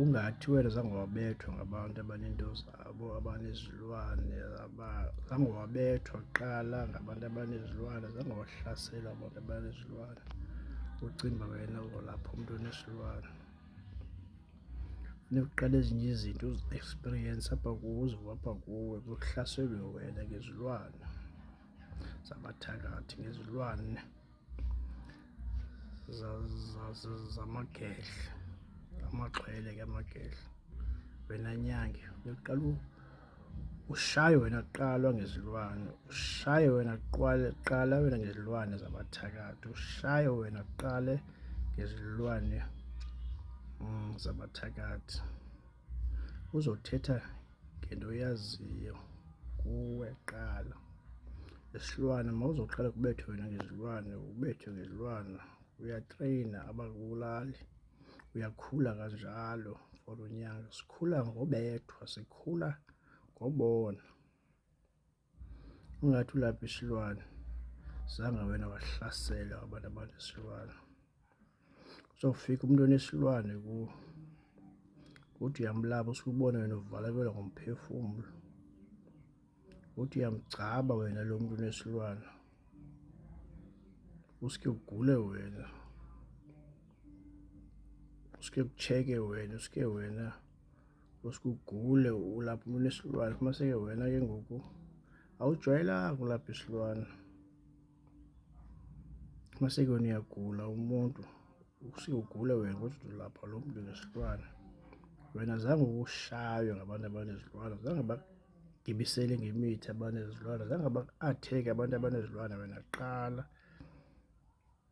Ungathi wena zange wabethwa ngabantu abanento zabo, abanezilwane, zange wabethwa kuqala ngabantu abanezilwane, zange wahlaselwa abantu abanezilwane, ucinga uba wena uzolapha umntu onesilwane. Funeka uqale ezinye izinto uzi-ekspiriyense apha kuwe, uzive apha kuwe kuhlaselwe wena ngezilwane, zabathakathi ngezilwane. zamagedla amaxhwele ke amagedla wena nyange uyoqala ushaye wena kuqalwa ngezilwane ushaye wena kuqwale qala wena ngezilwane zabathakathi ushaye wena kuqale ngezilwane mm, zabathakathi uzothetha ngento oyaziyo kuwe qala isilwane uma uzoqala kubethwe wena ngezilwane ubethwe ngezilwane uyatreyina abakubulali uyakhula kanjalo for unyaka sikhula ngobethwa sikhula ngobona Ungathi ulapha isilwane zange wena wahlasela abantu abanesilwane uzofika umuntu onesilwane kuwo uthi uyamlaba usubona wena uvalakelwa ngomphefumulo uthi uyamgcaba wena lo muntu onesilwane usuke ugule wena usuke kucheke wena usuke wena usuke ugule ulapha umuntu esilwane uma seke wena ke ngoku awujwayelanga ukulapha isilwane uma seke wena uyagula umuntu usuke ugule wena kodwa ulapha lo muntu nesilwane wena zange ukushaywe ngabantu abanezilwane zange bagibisele ngemithi abanezilwane zange ba-atheke abantu abanezilwane wena qala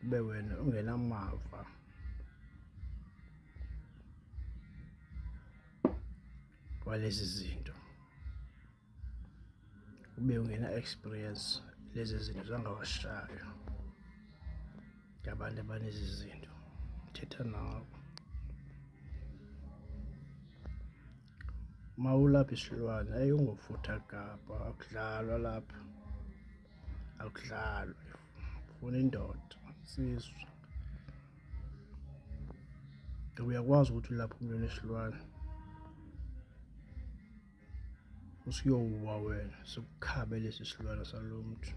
kube wena ungenamava walezi zinto ube ungena experience lezi zinto zangawashayo ngabantu abanezi zinto thetha nawo Mawulaphi silwane ayi ungofutha gabha akudlalwa lapha akudlalwa funa indoda sizwe ngoba uyakwazi ukuthi ulapha umlilo esilwane usuyowuwa wena sikukhabe lesi silwane salo mntu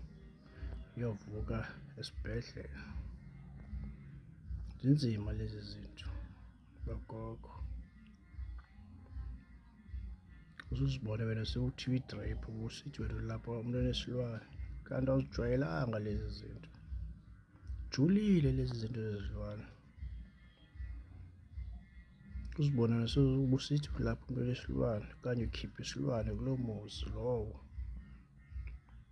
uyovuka esibhedlela zinzima lezi zinto logogo uzuzibone wena sewuthiwa i-drip ubusithi wena lapho umuntu onesilwane kanti awuzijwayelanga lezi zinto julile lezi zinto zezilwane uzibona naseubusithi lapho umuntu onesilwane okanye ukhiphe isilwane kulo muzi lowo